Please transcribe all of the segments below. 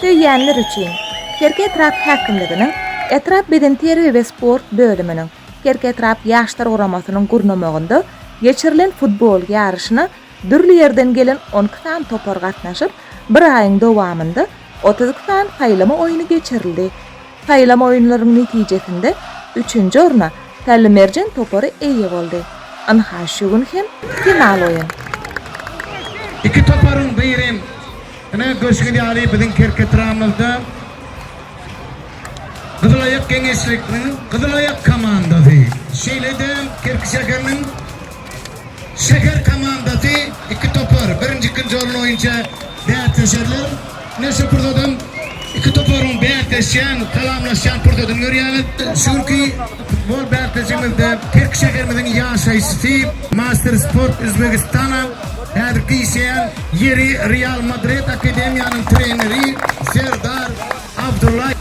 Söýýänler üçin! Kerki etrap häkimliginiň Etrap beden terbiýe we sport bölüminiň, Kerki etrap Ýaşlar guramasynyň gurnamagynda geçirilen futbol ýaryşyna dürli ýerden gelen on iki sany topar gatnaşyp, bir aýyň dowamynda otuz iki sany saýlama oýny geçirildi. Saýlama oýunlarynyň netijesinde üçünji orna Pälli Merjen topary eýe boldy. Ynha şu gün hem final oýun. Iki toparyň biri, ine, görşüňiz ýaly biziň Kerketramyzda Gyzylaýak geňeşlikniň Gyzylaýak komandasy, şeýle-de Kerki şäheriniň. Şäher komandasy iki topar, birinji, ikinji orun boýunça bäsleşerler. Ine şu pursadam iki toparyň bäsleşýän, salamlaşýan pursadyny görýäris. Şu günki futbol bäsleşigimizde Kerki şäherimiziň ýaşaýjysy, Master Sport Uzbekistana häzirki işleýän ýeri Real Madrid akademiýanyň treneri Serdar Abdullaýew.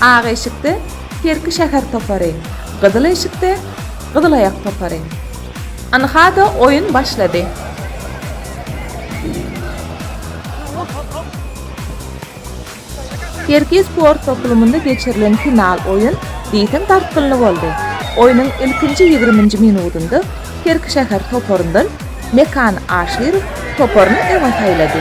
Ak eşikde Kerki şäher topary, gyzyl eşikde. Gyzylaýak topary. Ynha-da oýun başlady. Kerki sport toplumynda geçirilen final oýun diýseň dartgynly boldy. Oýnuň ilkinji ýigriminji minudynda Kerki şäher toparyndan Mekan Aşyrow toparyny öňe saýlady.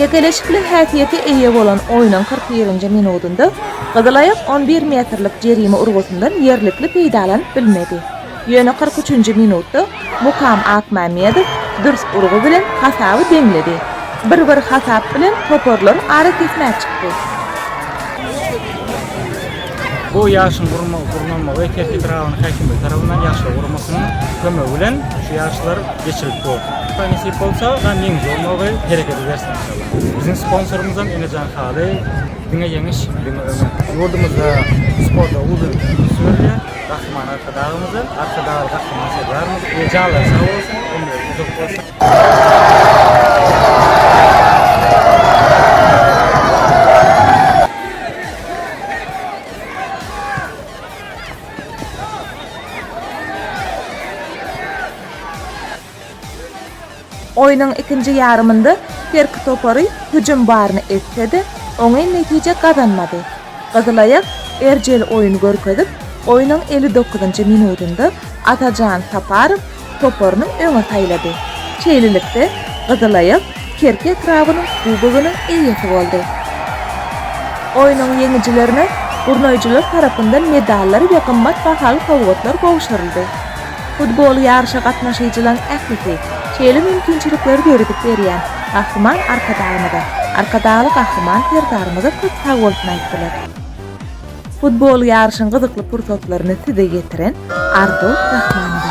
Çekeleşikli häsiýete eýe bolan oýnuň kyrk birinji minudynda Gyzylaýak on bir metrlik jerime urgusyndan ýerlikli peýdalanyp bilmedi. Ýöne kyrk üçünji minutda Mukam Akmämmedow dürs urgy bilen hasaby deňledi. Bir-bir hasap bilen toparlar arakesmä çykdy. Bu ýaşyň gurnamagy Kerki etrabynyň häkimligi tarapyndan ýaşlar guramasynyň kömegi bilen şu ýaryşlar geçirilip bolar. Hudaý nesip bolsa, gan ýeňiji bolmagy hereket ederis enşalla. Biziň sponsorymyzam Enejan haly, diňe ýeňiş, diňe öňe! Ýurdumyzda sporta uly üns berilýär. Gahryman Arkadagymyza, Arkadagly Gahryman Serdarymyza eý janlary sag bolsun, ömürleri uzak bolsun! Oýnuň ikinji ýarymynda Terk topary hüjüm baryny etse-de, oňyn netije gazanmady. Gyzylaýak erjel oýun görkezip, oýnuň elli dokuzynjy minudynda Atajan Saparow toparyny öňe saýlady. Şeýlelikde, Gyzylaýak Kerki etrabynyň kubogynyň eýesi boldy. Oýnuň ýeňijilerine gurnaýjylar tarapyndan medallar we gymmat bahaly sowgatlar gowşuryldy. Futbol ýaryşa gatnaşyjylaryň ählisi, şeýle mümkinçilikleri döredip berýän Gahryman Arkadagymyza, Arkadagly Gahryman Serdarymyza köp sag bolsun aýtdylar. Futbol ýaryşyň gyzykly pursatlaryny size ýetiren Arzuw Rahmanowa.